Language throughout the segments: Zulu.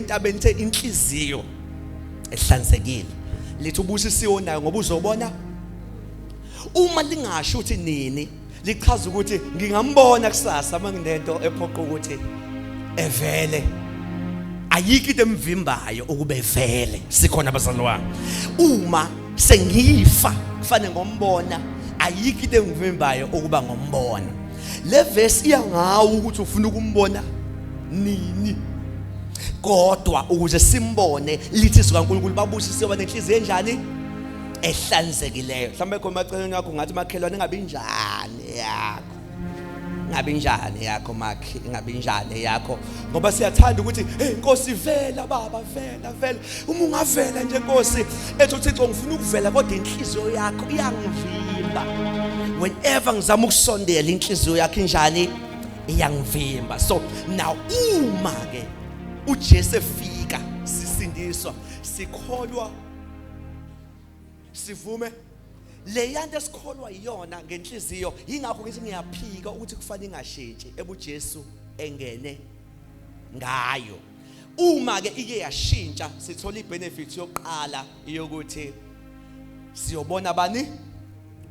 entabeni the inhliziyo ehlanzekile lithi ubusisiwe nayo ngoba uzobona uma lingasho ukuthi nini lichaza ukuthi ngingambona kusasa uma nginento ephoqa ukuthi evele ayikho into emvimbayo ukube evele sikhona abazali wami uma sengifa kufanele ngombona ayikho into engivimbayo ukuba ngombona le verse iya ngawo ukuthi ufuna ukumbona nini kodwa ukuze simbone lithi izwi kaNkulunkulu babusisiwe banenhliziyo enjani ehlanzekileyo mhlawumbe khona maceleni yakho ngathi makhelwane ingabe injani yakho ingabe injani yakho makhe ingabe injani yakho ngoba siyathanda ukuthi hey nkosi vela baba vela vela uma ungavela nje nkosi ethi uthixo ngifuna ukuvela kodwa inhliziyo yakho iyangivimba whenever ngizama ukusondela inhliziyo yakho injani iyangivimba so now uma ke uJesu efika sisindiswa sikholwa sivume leya nto esikholwa iyona ngenhliziyo yingakho ngithi ngiyaphika ukuthi kufanele ingashintshi ebuJesu engene ngayo uma ke ike yashintsha sithola ibenefit yokuqala yokuthi siyobona bani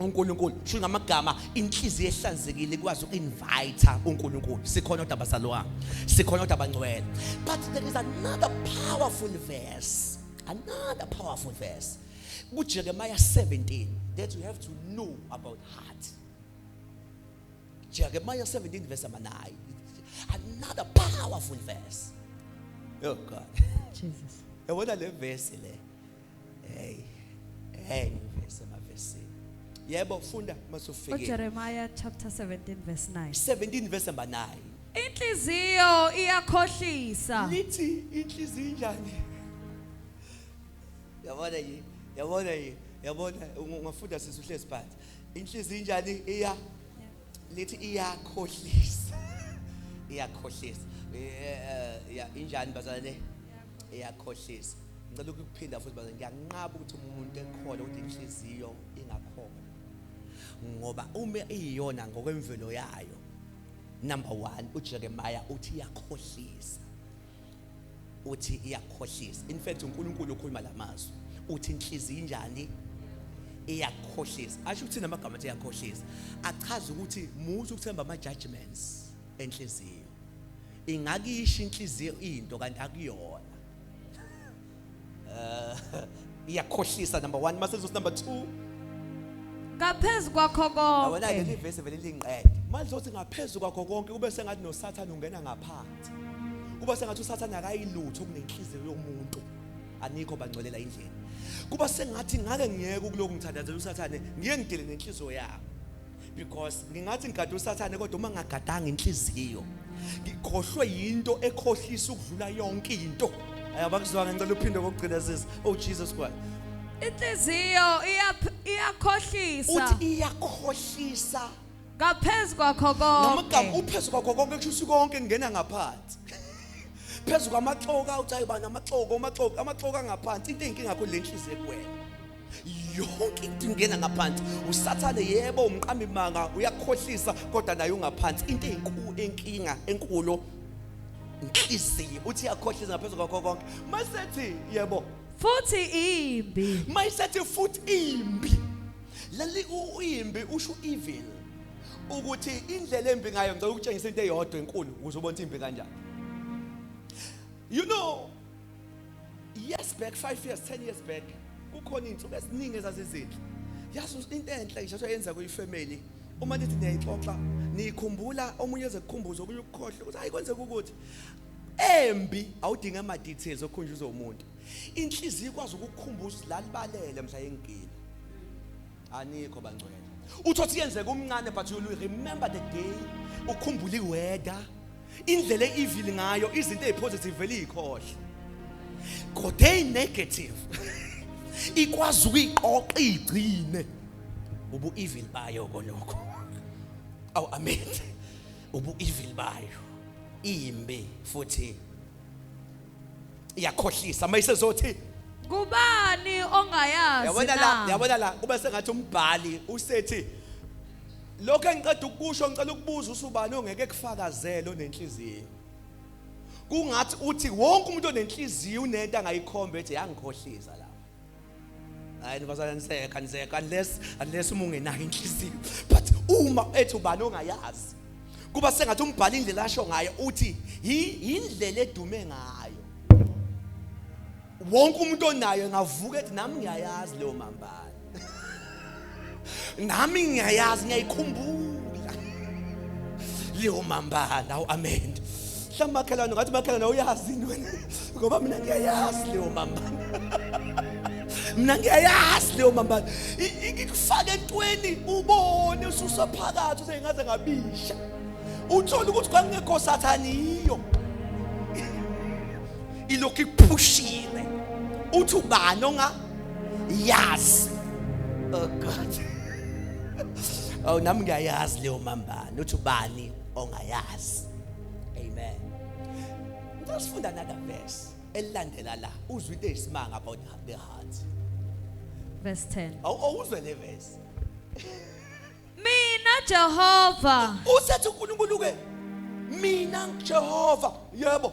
uNkulunkulu sho ngamagama inhliziyo ehlanzekile ikwazi uinvite uNkulunkulu sikhona odaba salwa sikhona odaba ngcwele but there is another powerful verse another powerful verse kuJeremiah 17 that you have to know about heart Jeremiah 17 verse number 9. Another powerful verse. Oh God. Jesus. And what are the verse le? Hey. Hey, verse my verse. Yebo funda masufike. Jeremiah chapter 17 verse 9. 17 verse number 9. Inhliziyo iyakhohlisa. Lithi inhliziyo injani? Yabona yini? Yabona yini? Yabona ungafunda sisi uhlezi phansi. inhliziyo injani iya lithi iyakhohlisa iyakhohlisa eh, ya injani bazalwane iyakhohlisa ngicela ukuphinda futhi bazalwane ngiyanqaba ukuthi umuntu ekhona ukuthi inhliziyo ingakhona ngoba uma iyiyona ngokwemvelo yayo number 1 uJeremiah uthi iyakhohlisa uthi iyakhohlisa in fact uNkulunkulu ukhuluma lamazwi uthi inhliziyo injani iyakhohlisa asho ukuthi namagama athi iyakhohlisa achaza ukuthi muthi ukuthemba ama judgments enhliziyo ingakisho inhliziyo into kanti akuyona Eh, iyakhohlisa number 1 mase uzothi number 2 ngaphezu kwakho awona konke leli verse vele lingiqede manje uthi ngaphezulu kwakho konke kube sengathi noSathane ungena ngaphansi kuba sengathi uSathane akayilutho kunenhliziyo yomuntu anikho bangcolela indlela kuba sengathi ngake ngiyeke ukuloku ngithandazela uSathane ngiye ngidele nenhliziyo yakho because ngingathi ngigade usathane kodwa uma ngagadanga inhliziyo ngikhohlwe yinto ekhohlisa ukudlula yonke into ayabakuzwanga ngicela uphinde kokugcina sisi oh Jesus Christ inhliziyo iyakhohlisa uthi iyakhohlisa ngaphezu kwakho konke noma igama uphezu kwakho konke kusho ukuthi konke kungena ngaphansi phezu kwamaxoka uthi ayibani amaxoko amaxoka amaxoka ngaphansi into enkinga kho lenhliziyo kuwena yonke into ingena ngaphansi usathane yebo umqambi manga uyakhohlisa kodwa naye ungaphansi into enkulu enkinga enkulu inhliziyo uthi yakhohlisa ngaphezulu kwakho konke masethi yebo futhi imbi mayisethi futhi imbi leli uyimbi usho evil ukuthi indlela embi ngayo ngicela ukutshengisa into eyodwa enkulu ukuze ubone imbi kanjani you know years back 5 years 10 years back kukhona izinsuku eziningi ezazizinhle yazi into enhle ngisho yenza kuyifamily uma nithi niyayixoxa niyikhumbula omunye ezekukhumbuza okunye ukukhohle ukuthi hayi kwenzeka ukuthi embi awudinga ama details okhunjuza umuntu inhliziyo ikwazi ukukukhumbuza ukuthi lalibalele mhla yengigila anikho bangcwele uthothi yenzeka umncane but you remember the day ukhumbula iweather indlela e-evil ngayo izinto ezipositive vele izikhohle kodwa ezinegative ikwazi ukuyiqoqa igcine ubu evil bayo konokho aw amen ubu evil bayo imbe futhi iyakhohlisa mayisezothi kubani ongayazi yabona la na yabona la kube sengathi umbhali usethi lokho engiqeda ukusho ngicela ukubuza usubani ongeke kufakazele onenhliziyo kungathi uthi wonke umuntu onenhliziyo unento angayikhomba ethi yangikhohlisa la hayi nibazana niseka niseka unless unless uma ungenayo inhliziyo but uma ethi ubani ongayazi kuba sengathi umbhala indlela asho ngayo uthi yindlela edume ngayo wonke umuntu onayo ngavuka ethi nami ngiyayazi leyo mambala nami ngiyayazi ngiyayikhumbula leyo mambala uamend mhlawumbe makhelwane ngathi makhelwane uyazi yini wena ngoba mina ngiyayazi leyo mambala mina ngiyayazi leyo mambala ikufaka entweni ubone ususaphakathi usengaze ngabisha uthole ukuthi kwangekho sathane yiyo ilokhu ikuphushiwe uthi ubani onga yazi oh god awu nami ngiyayazi leyo mambani uthi ubani ongayazi amen ngisifunda nada verse elilandela la uzwe into eyisimanga about the heart verse 10 awuzwe le verse mina Jehova usethi uNkulunkulu ke mina Jehova yebo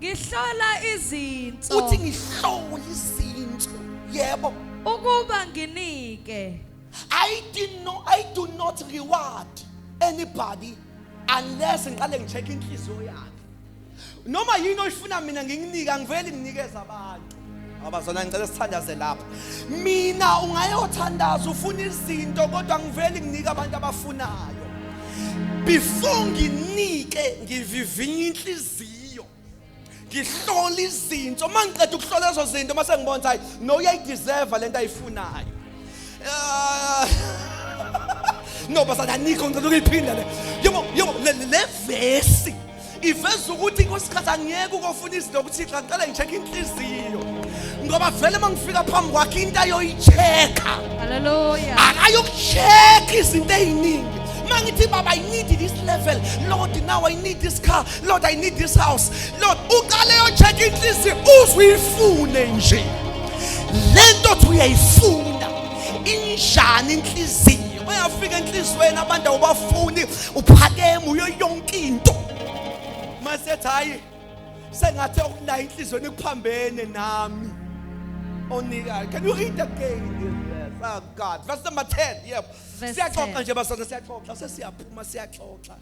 Ngihlola izinso. Uthi ngihlola izinso. Yebo. Ukuba nginike. I did not I do not reward anybody unless ngiqale ngicheck inhliziyo yakhe. Noma yini oyifuna mina nginginike angiveli nginikeza abantu. abazona ngicela sithandaze lapha mina ungayothandaza ufuna izinto kodwa ngivele nginike abantu abafunayo before nginike ngivivinya inhliziyo ngihlola izinto uma ngiqeda ukuhlola lezo zinto uma sengibona ukuthi hayi no uyayideserva le nto ayifunayo no basathi anikho ngicela ukuyiphinda le yebo yebo le vesi iveza ukuthi kwesikhathi angiyeke ukofuna izinto kuthixo angicela ngi-check-e inhliziyo ngoba vele uma ngifika phambi kwakhe into ayoyi-check-a haleluya akayoku-check-a izinto ey'ningi uma ngithi baba i need this level lord now i need this car Lord I need this house Lord uqale yocheck inhliziyo uzuyifune nje lento othi uyayifuna injani inhliziyo bayafika enhliziyweni abantu awubafuni uphakeme uyo yonke into masethi hayi sengathi okulayo inhliziyweni kuphambene nami onikayo can you read again oh god verse number 10 yebo siyaxoxa nje basana siyaxoxa sesiyaphuma siyaxoxa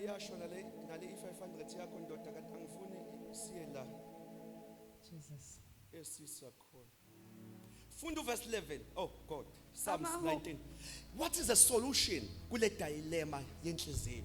iyasho nale nale i-500 yakho ndoda kanti angifuni siye la Jesus. esisi yakhona funda uverse 11 oh god psalms Amahubo. 19 what is the solution kule dilemma yenhliziyo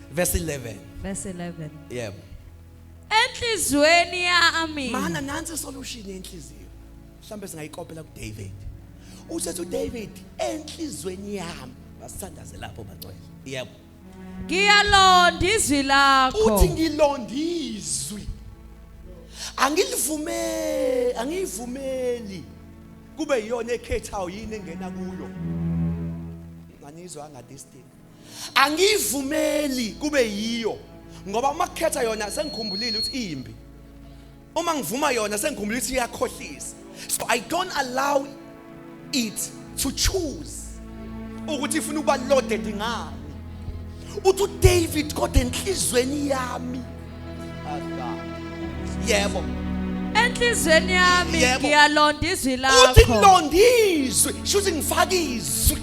Verse 11. Verse 11. Yebo. Enhlizweni yami. Mana nansi solution yenhliziyo. Mhlambe singayikopela kuDavid. Usethi uDavid enhlizweni yami basithandaze lapho bangcwele. Yebo. Ngiyalonda izwi lakho. Uthi ngilonda izwi. Angilivumeli, angiyivumeli. Kube iyona ekhethayo yini engena kuyo. Nganizwa nga this thing. angiyivumeli kube yiyo ngoba uma kukhetha yona sengikhumbulile ukuthi iyimbi uma ngivuma yona sengikhumbulile ukuthi iyakhohlisa so i don't allow it to choose ukuthi ifuna ukuba loaded ngani uthi uDavid kodwa enhlizweni yami yebo enhlizweni yami ngiyalonda izwi lakho uthi ngilonda izwi shuthi ngifaka izwi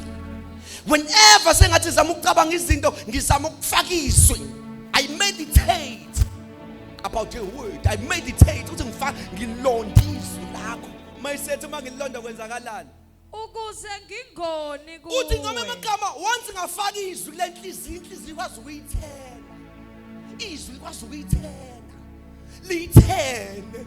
whenever sengathi zama ukucabanga izinto ngizama ukufaka izwi i meditate about your word i meditate ukuthi ngifaka ngilonda izwi lakho mayisethi uma ngilonda kwenzakalani ukuze ngingoni kuwe uthi ngome amagama once ngafaka izwi lenhliziyo inhliziyo kwazi ukuyithela izwi kwazi ukuyithela lithele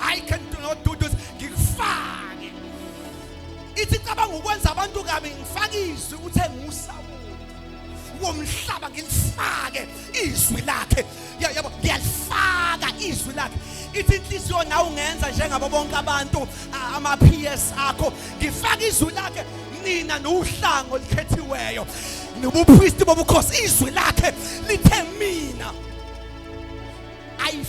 I can do not do this. Ngikufake. Ithi cabanga ukwenza abantu kabi ngifake izwi ukuthi enguSawulu. Womhlaba ngilifake izwi lakhe. Yabo ngiyalifaka izwi lakhe. ithi inhliziyo nawe ungenza njengabo bonke abantu ama-ps akho ngifake izwi lakhe nina nowuhlanga olukhethiweyo nobuphristi bobukhosi izwi lakhe lithe mina ayif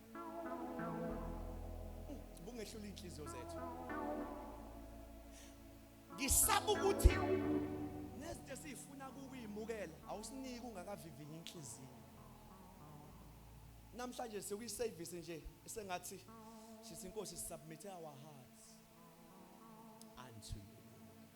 bungehlula inhliziyo zethu ngisaba ukuthi nezinto esiyifuna kukuyimukela awusiniki ungakavivinyi inhliziyo namhlanje sekuyiservice nje esengathi sithi inkosi submit our hearts unto you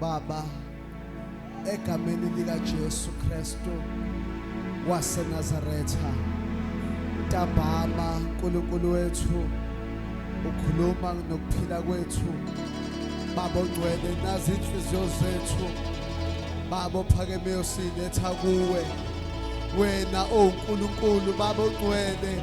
Baba egameni lika Jesu Kristu waseNazaretha ntambama uNkulunkulu wethu ukhuluma nokuphila kwethu babo ngcwele nazi inhliziyo zethu babo phakemeyo siletha kuwe wena owuNkulunkulu babo ngcwele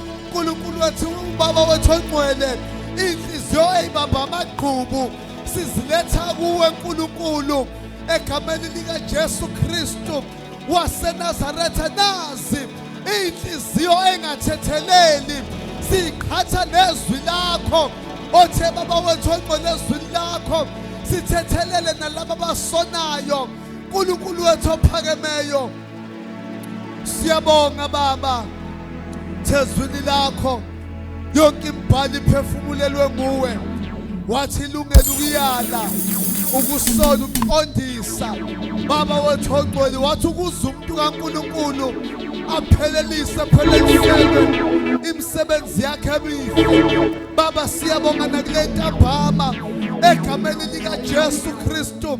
uNkulunkulu wethu ubaba wethu ongcwele inhliziyo eyibamba amagqubu siziletha kuwe nkulunkulu egameni likajesu kristu wasenazaretha nazi iy'nhliziyo engathetheleli siqhatha nezwi lakho othe baba wethu ongcwele ezwini lakho sithethelele nalaba abasonayo nkulunkulu wethu ophakemeyo Siyabonga Baba thezwini lakho yonke imbhali iphefumulelwe nguwe wathi ilungela ukuyala ukusola ukuqondisa baba wethu ongcwele wathi ukuza umuntu kaNkuluNkulu aphelelise phelelisele imisebenzi yakhe emihle baba siyabonga nakule ntambama egameni likaJesu Kristu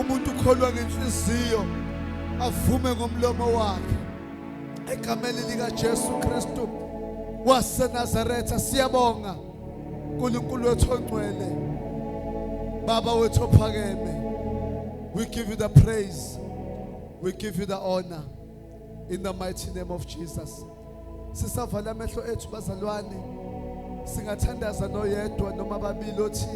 umuntu ukholwa ngenhliziyo avume ngomlomo wakhe egameni likaJesu Kristu waseNazaretha siyabonga uNkulunkulu wethu ongcwele baba wethu ophakeme we give you the praise we give you the honor in the mighty name of Jesus sisavala amehlo ethu bazalwane singathandaza noyedwa noma ababili othi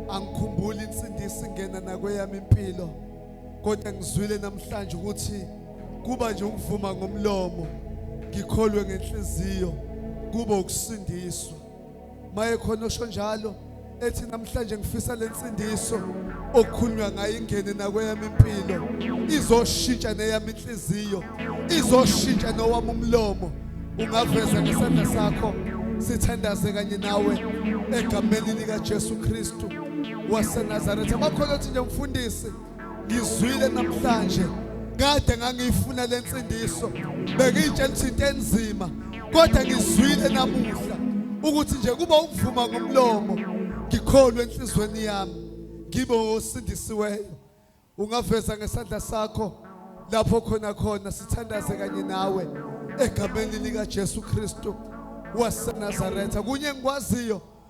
angikhumbuli insindisi ingena nakweyami impilo kodwa ngizwile namhlanje ukuthi kuba nje ukuvuma ngomlomo ngikholwe ngenhliziyo kuba ukusindiswa maye khona osho njalo ethi namhlanje ngifisa lensindiso okukhulunywa ngayo ingene nakweyami impilo izoshintsha neyami inhliziyo izoshintsha nowami umlomo ungaveza ngesandla sakho sithandaze kanye nawe egameni likaJesu Kristu waseNazaretha bakhona othi nje mfundisi ngizwile namhlanje kade ngangiyifuna le nsindiso bengiyitshela ukuthi into enzima kodwa ngizwile namuhla ukuthi nje kuba ukuvuma ngomlomo ngikholwe enhlizweni yami ngibe osindisiweyo ungaveza ngesandla sakho lapho khona khona sithandaze kanye nawe egameni likaJesu Kristu waseNazaretha kunye ngikwaziyo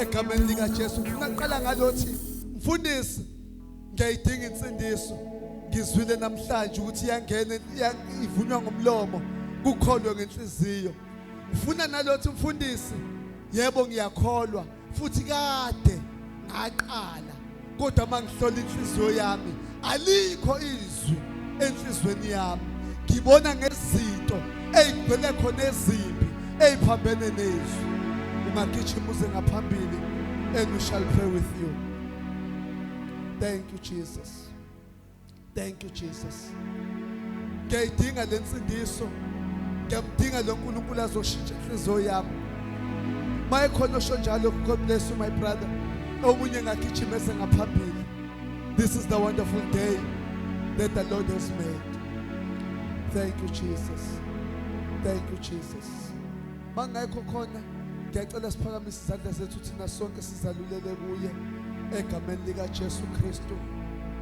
egameni likaJesu ngaqala ngalothi mfundisi ngiyayidinga insindiso ngizwile namhlanje ukuthi iyangena ivunywa ngomlomo kukholwe ngenhliziyo ngifuna nalothi mfundisi yebo ngiyakholwa futhi kade ngaqala kodwa uma ngihlola inhliziyo yami alikho izwi enhliziyweni yami ngibona ngezinto eyigcwele khona ezimbi eyiphambene nezwi ungagijima uze ngaphambili and we shall pray with you thank you jesus Thank you Jesus. Ngiyayidinga lensindiso. Ngiyamdinga lo Nkulunkulu azoshintsha inhliziyo yami. Maye khona osho njalo God bless you my brother. Omunye ngagijima sengaphambili. This is the wonderful day that the Lord has made. Thank you Jesus. Thank you Jesus. Mangekho khona ngiyacela siphakamise izandla zethu thina sonke sizalulele kuye egameni lika Jesu Kristu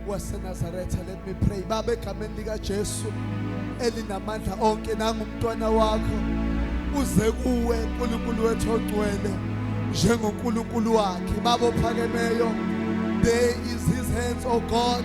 waseNazaretha let me pray baba egameni lika Jesu elinamandla onke nangumntwana wakho uze kuwe uNkulunkulu wethu ogcwele njengoNkulunkulu wakhe baba ophakemeyo there is his hands oh God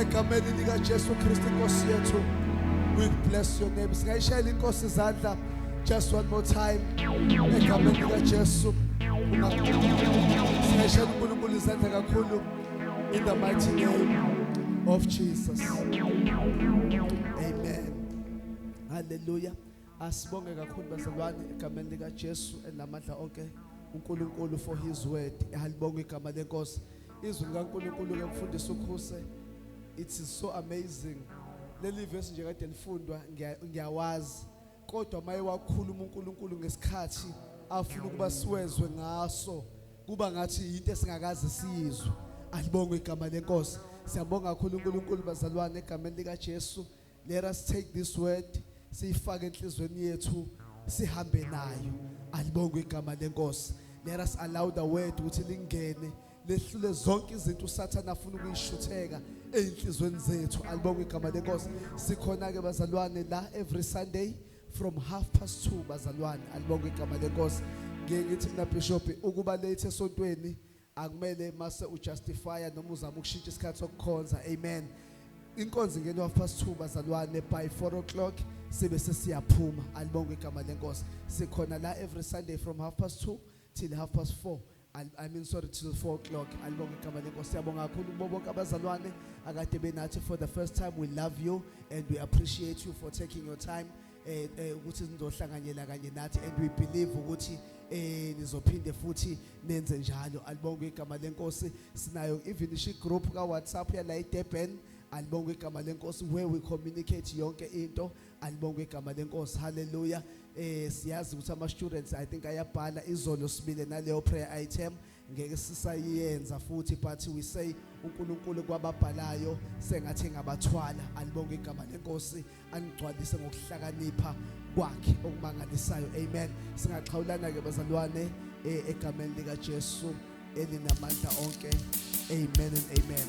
egameni likaJesu Kristu inkosi yethu we bless your name singayishayela inkosi izandla just one more time egameni likaJesu singayishayela uNkulunkulu izandla kakhulu in the mighty name of Jesus amen hallelujah Asibonge kakhulu bazalwane egameni lika Jesu enamandla onke uNkulunkulu for his word. Halibonga igama lenkosi. Izwi likaNkulunkulu ke mfundisi ukhuse. It is so amazing. Leli verse nje kade lifundwa ngiya- ngiyawazi. Kodwa maye wakhuluma uNkulunkulu ngesikhathi afuna ukuba siwezwe ngaso kuba ngathi yinto esingakaze siyizwe. Alibonga igama lenkosi. Siyabonga kakhulu uNkulunkulu bazalwane egameni lika Jesu. Let us take this word siyifake enhlizweni yethu sihambe nayo. Alibongwe igama lenkosi. Let us allow the word ukuthi lingene lehlule zonke izinto uSathane afuna ukuyishutheka ezinhlizweni zethu. Alibongwe igama lenkosi. Sikhona ke bazalwane la every Sunday from half past 2 bazalwane. Alibongwe igama lenkosi. Ngeke ngithi mina Bishop ukuba late esontweni Akumele mase ujustifya noma uzama ukushintsha isikhathi sokukhonza. Amen. Inkonzo ingena half past 2 bazalwane by 4 o'clock sibe sesiyaphuma. Alibonge igama lenkosi. Sikhona la every Sunday from half past 2 till half past 4. Al- I mean sorry till 4 o'clock. Alibonge igama lenkosi. Siyabonga kakhulu kubo bonke abazalwane akade benathi for the first time. We love you and we appreciate you for taking your time eh, eh ukuthi nizohlanganyela kanye nathi and we believe ukuthi eh nizophinde futhi nenze njalo alibonge igama lenkosi sinayo even ishi group ka WhatsApp yala eDurban alibonge igama lenkosi where we communicate yonke into alibonge igama lenkosi haleluya eh siyazi ukuthi ama students i think ayabhala izolo sibile naleyo prayer item ngeke sisayenza futhi but we say uNkulunkulu kwababhalayo sengathi ngabathwala alibonge igama lenkosi anigcwalise ngokuhlakanipha kwakhe okumangalisayo amen singaxhawulana ke bazalwane eh, egameni lika Jesu elinamandla onke amen and amen